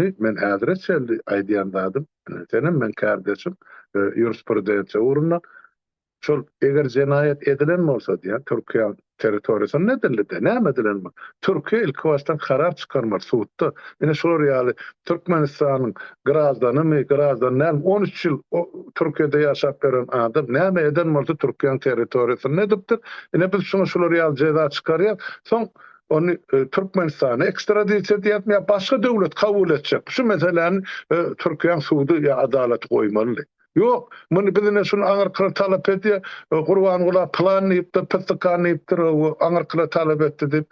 Ýagny, men häzire çenli aýdýan zadym, senem meň kärdeşim ýurisprudensiýa ugrunda şol eger jenaýat edilen bolsa diýýän Türkiýäň territoriýasynda edildi-de, näme edilen bu? Türkiýe ilkibaşdan karar çykarmaly sudda. Ine şular ýaly Türkmenistanyň graždanymy, graždan dälmi on üç ýyl Türkiýede ýaşap ýören adam näme eden bolsa Türkiýäň territoriýasynda edipdir. Ine biz şuňa şular ýaly jeza çykarýas. Soň ony Türkmenistana ekstradisiýa edýärmi ýa başga döwlet kabul etjek şu meseläni Türkiýäň sudy ýa adalaty goýmalydy. Ýok, muny biz ine şuny aňyrkylar talap edýär, Gurbangula plan diýipdir, pyssykan diýipdir, hawa aňyrkylar talap etdi diýip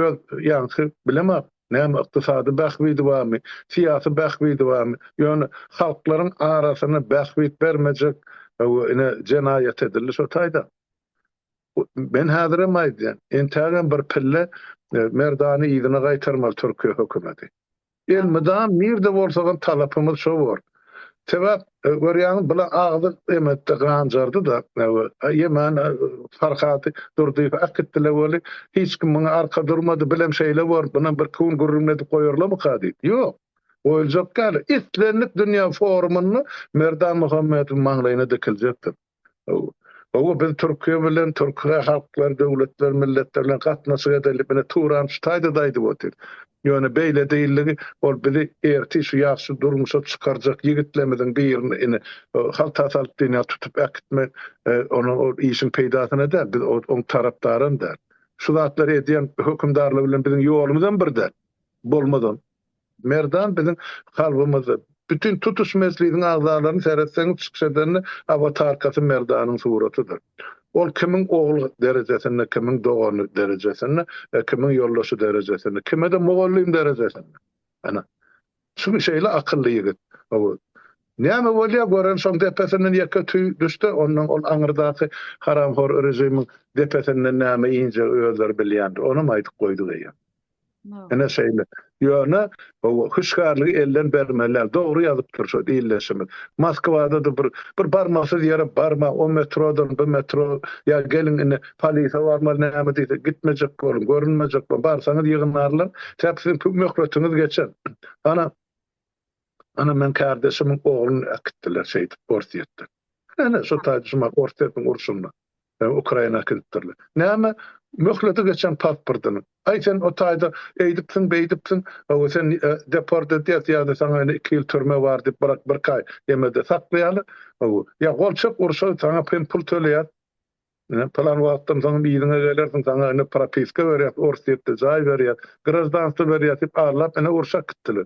öz ýaňky bilemok näme ykdysady bähbidi barmy, syýasy bähbidi barmy, ýöne halklaryň arasyna bähbit bermejek hawa ine jenaýat edildi şo taýdan. Men häzirem aýdýan, entägem bir pille Merdany yzyna gaýtarmaly Türkiýe hökümeti. Elmydam nirde bolsagam talapymyz şo bor. Sebäp görýäňiz bula agzy emetde ganjardy-da, ýemen Farhat Durdyýew äkitdiler weli, hiç kim muňa arka durmady, bilem şeýle bor, bunam bir iki gün gürrüňledip goýarlamyka diýip. Ýok, goýuljak däl. Islendik dünýä forumynda Merdan Muhammedowyň maňlaýyna dikiljekdir. Gowy, biz Türkiýe bilen, türkühe halklar, döwletler, milletler bilen gatnaşyk edeli, bine Turan şu taýda-da aýdyp otyr. Ýöne beýle diýildigi, ol bizi ertir şu ýagşy durmuşa çykarjak ýigitlerimiziň birini ine, halta salyp dünýä tutup äkitmek, onuň ol işiň peýdasyna däl, biz oň tarapdaram däl. Şu zatlary edýän hökümdarlar bilen biziň ýolumyzam bir däl. Bolmazam. Merdan biziň kalbymyzda. Bütin tutuş mejlisiň agzalaryny seretseňiz çykyş edende awatarkasy Merdanyň suratydyr. Ol kimiň ogly derejesinde, kimiň dogany derejesinde, kimiň ýoldaşy derejesinde, kime-de mugallym derejesinde. Ana, çünki şeýle akylly ýigit. Hawa. Näme bolýa gören şoň depesinden ýeke tüý düşse, ondan ol aňyrdaky haramhor režimiň depesinden näme injegi özleri bilýändir. Onam aýdyp goýduk eýýäm. Ine şeýle. Ýöne hüşgärligi elden bermeliler. Dogry ýazypdyr şu ildeşimiz. Moskwada-da bir bir barmasyz ýere barma, o metrodan bu metro ýa geliň indi polise barmaly näme diýse gitmejek boluň, görünmejek boluň. Barsaňyz ýygnarlar. Sebäbi siziň möhletiňiz geçer. Ana Ana meň kardeşimiň ogluny äkitdiler şeýdip Orsýetden. Ene şu taýda şu mahaly Orsýetiň urşunda Ukraina äkidipdirler. Näme möhleti geçen pasportyny. Aý sen o taýda eýdipsiň beýdipsiň hawa sen deport edýäs ýa-da saňa ene iki ýyl türme bar diýip brak birki aý emede saklaýalar hawa ýa golçak urşa saňa hem pul töleýäs ene pylan wagtdan soň yzyňa gelersiň saňa ene propiska berýäs Orsýetde jaý berýäs graždanstwo berýäs diýip arlap ene urşa äkitdiler.